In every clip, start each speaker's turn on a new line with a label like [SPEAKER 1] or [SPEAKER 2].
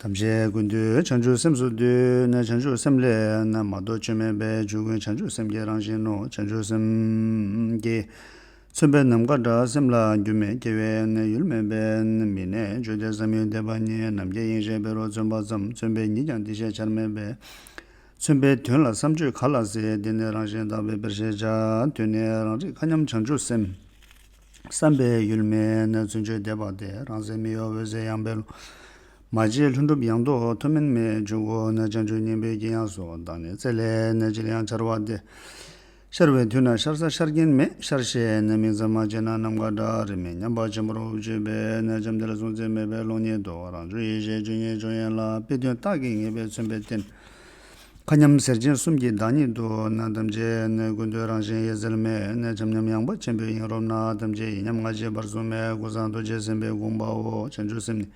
[SPEAKER 1] ཐམས་ཅད་ཀུན་འདུས་བྱང་ཆུབ་སེམས་སུ་འདུས་ནས་བྱང་ཆུབ་སེམས་ལས་ན་མ་གཏོགས་ཆོས་མེད་པས་ཆོས་ཀུན་བྱང་ཆུབ་སེམས་ཀྱི་རང་བཞིན་ནོ་བྱང་ཆུབ་སེམས། ཀྱིས་མཚོན་པའི་ནམ་མཁའ་འདྲ་སེམས་ལ་རྒྱུ་མེད་སྐྱེ་བའི་གནས་ཡུལ་མེད་པས་མི་གནས་བརྗོད་བདེ་བསམ་ཡུལ་འདས་པ་གཉིས་ནམ་སྐྱེ་གཡེང་ཤས་བེ་རོ་བརྩོན་པ་ཙམ་མཚོན་པའི་ཉིད་ཀྱང་འདི་ཤས་ཆར་མེད་པས། མཚོན་པའི་དོན་ལ་བསམ་བརྗོད་ག་ལ་ཟེར་འདི་ནི་རང་བཞིན་དག་པའི་དཔེར་ཤས་ཆ་དོན་ནི་རང་རིག་མཁའ་མཉམ་བྱང་ཆུབ་སེམས། བསམ་པས་ཡུལ་མེད་ན་བརྩོན་འགྲུས་འདས་པ་སྟེ་རང་ཟད་མི་གཡོ་འོད་ཟེར་ཡངས་པའི་ཀློང། མ་བརྗེད་ལྷུན་གྲུབ་ཡངས་དོག་ཐུགས་མིན་མེད་འབྱུང་ཁུག་ན་སྤྱང་གྲུང་སྙིང་པོའི་དཀྱིལ་ཡངས་སུ་དག་ནས་རྩེ་ལས་ནི་ཅིར་ཡང་འཆར་བ་སྟེ། ཤར་བའི་དུས་ན་ཤར་ས་ཤར་རྒྱན་མེད་ཤར་ཞེས་ནི་མིང་ཙམ་མ་བརྗེད་ན་ནམ་མཁའ་འདྲ་རེ་མེད་སྙམ་པ་ཆེན་པོར་འུབ་བྱེད་པས་ན་བྱམས་གཏེར་གཟུང་འཛིན་མེད་པའི་ཀློང་ཉིད་དུ་རང་བྱུང་ཡེ་ཤེས་ཆོས་ཉིད་འབྱུང་ཡན་ལག་པའི་དོན་རྟགས་ཀྱི་ངེས་པས་མཚོན་པའི་རྟེན། མཁའ་མཉམ་གཟེར་ཆེན་གསུམ་གྱི་བདག་ཉིད་དུ་ནི་ཐམས་ཅད་ནི་ཀུན་ཏུ་རང་བཞིན་ཡེ་གཟེར་མེད་བྱམས་མཉམ་ཡངས་པ་ཆེན་པོའི་དབྱིངས་རོལ་ན་ཐམས་ཅད་ཡིན་མཉམ་ང་རྒྱལ་བར་གསུམ་མའི་སྐུ་གསང་རྡོ་རྗེ་སེམས་དཔའི་དགོངས་པའོ་བྱང་ཆུབ་སེམས་ནི་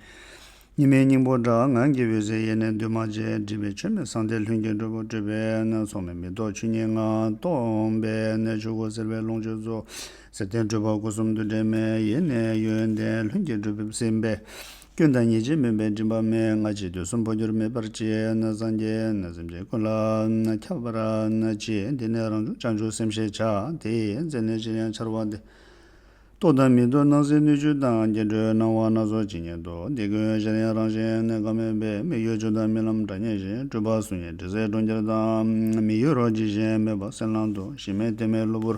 [SPEAKER 1] ཉི་མའི་སྙིང་པོ་འདྲ་ངང་གི་འོད་ཟེར་ཡེ་ནས་འདུས་མ་བྱས་སྒྲིབ་པའི་ཆོས་མེད་གསང་བདེ་ལྷུན་གྱིས་གྲུབ་པོ་སྤྲོས་པས་ན་ཚོགས་མེད་མི་རྟོག་ཆོས་ཉིད་ངང་སྟོང་པས་ན་ཆོས་སྐུ་གསལ་བའི་ལོངས་སྤྱོད་རྫོགས། གསེར་ལྡན་སྤྲུལ་པ་སྐུ་གསུམ་འདུ་འབྲལ་མེད་ཡེ་ནས་ཡོན་ཏན་ལྷུན་གྱིས་གྲུབ་པས་སེམས་དཔའི་སྐྱོན་དང་ཉེས་བྱས་མིན་པའི་མགྲིན་པ་མན་ངག་གཅིག་ཏུ་གསུམ་འཕོ་འགྱུར་མེད་པར་བཅས་ན་སངས་རྒྱས་སེམས་ཅན་ཀུན་ལ་ཁྱབ་པར་བྱེད་དེ་ནས་རང་བྱུང་བྱང་ཆུབ་སེམས་ཤེས་བྱ་དེས་མཚན་ལས་ཅིར་ཡང་འཆར་བ་སྟེ། རྟོག་དང་མི་རྟོག་སྣང་སྲིད་སྣོད་བཅུད་དང་སྐྱེ་འགྲོའི་སྣང་བ་སྣ་ཚོགས་ཇི་སྙེད་དུ་འདི་ཀུན་གཞལ་ཡང་རང་གཞན་གནས་སྐབས་མེད་པས་མི་གཡོ་ཆོས་དང་རྨི་ལམ་སྒྲ་སྙན་བཞིན་སྤྲུལ་པ་གཟུགས་བརྙན་དྲི་ཟའི་གྲོང་ཁྱེར་དང་མི་གཡོ་རོ་གཅིག་གཞན་མེད་པ་སེམས་ལང་དུ་གཞི་མེད་གཏད་མེད་གློ་བུར་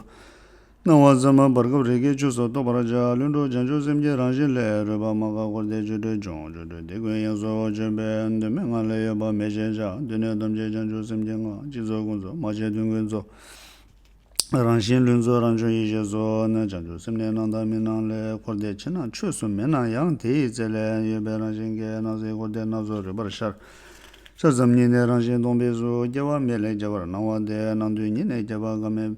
[SPEAKER 1] སྣང་བ་ཙམ་མ་བར་སྐབས་རེ་ཁའི་ཆུ་སོགས་རྟོགས་པར་བྱ། ལུས་འགྲོ་བྱང་ཆུབ་སེམས་ཀྱི་རང་བཞིན་ལས་རོལ་པ་མ་འགགས་འཁོར་འདས་བཅུད་དྲུག་འབྱུང་འགྱུར་དྲུག་སྡེ་ཀུན་ཡངས་སོ་བྱོན་པས་གདོད་མའི་ངང་ལས་ཡོད་པ་མེད་ཅེས་བྱ། དུས་གནས་ཐམས་ཅད་བྱང་ཆུབ་སེམས་ཀྱི་ངང་གཅིག་རྫོགས་ཀུན་རྫོགས་མ་བྱས་དོན་ཀུན་རྫོགས། རང་བཞིན་ལུས་རྫོགས་རང་བྱུང་ཡེ་ཤེས་སོ། བྱང་ཆུབ་སེམས་ནི་སྣང་དང་མི་སྣང་ལས་འཁོར་འདས་ཕྱི་ནང་ཆོས་སུ་མེད་ན་ཡང་དེ་ཡི་རྩལ་ལས་ཡོད་པའི་རང་བཞིན་གྱིས་སྣང་སྲིད་འཁོར་འདས་སྣ་ཚོགས་རོལ་པར་ཤར། ཤར་ཙམ་ཉིད་ནས་རང་བཞིན་སྟོང་པས་སུ་སྐྱེ་བ་མེད་ལས་སྐྱེ་བར་སྣང་བ་དེ་སྣང་དུས་ཉིད་ནས་སྐྱེ་བ་འགག་མེད།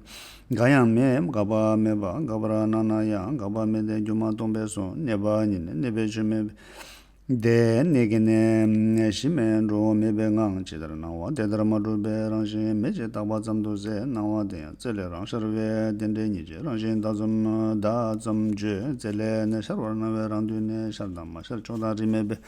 [SPEAKER 1] འགག་ཡང་མེད་འགག་པ་མེད་པ་འགག་པར་སྣང་ན་ཡང་འགག་པ་མེད་དེ་སྒྱུ་མ་སྟོང་པའི་སོ་གནས་པ་ཉིད་ནི་གནས་པའི་ཆོས་མེད་པས། དེ་གནས་ཀྱི་གནས་གཞི་མེད་འགྲོ་འོང་མེད་པའི་ངང་ཇི་ལྟར་སྣང་བ་དེ་ལྟར་མ་གྲུབ་པས་རང་བཞིན་མེད་ཅེས་བཏགས་པ་ཙམ་དུ་ཟད་སྣང་བ་དེ་ཡང་རྩལ་ལས་རང་ཤར་བས་རྟེན་འབྲེལ་ཉིད་ཀྱི་རང་བཞིན་བདག་ཙམ་བདག་ཙམ་བརྗོད་རྩལ་ལས་གནས་ཤར་བར་སྣང་བས་རང་དུས་གནས་ཤར་དང་མ་ཤར་ཕྱོགས་དང་རིས་མེད་པས།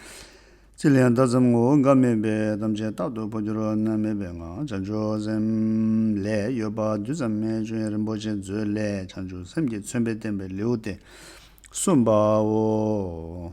[SPEAKER 1] ཚིག་ལས་བརྡ་ཙམ་ངོ་བོ་འགའ་མེད་པའི་གཏམ་ཆེན་རྟག་ཏུ་འཕོ་འགྱུར་བ་ན་མེད་པའི་ངང་བྱང་ཆུབ་སེམས། ལས་ཡོད་པ་རྡུལ་ཙམ་མའི་སྤྱོད་ཡོན་རིན་པོ་ཆེ་མཛོད་ལས་བྱང་ཆུབ་སེམས་ཀྱི་མཚོན་དཔེ་བསྟན་པའི་ལེའུ་སྟེ་གསུམ་པའོ།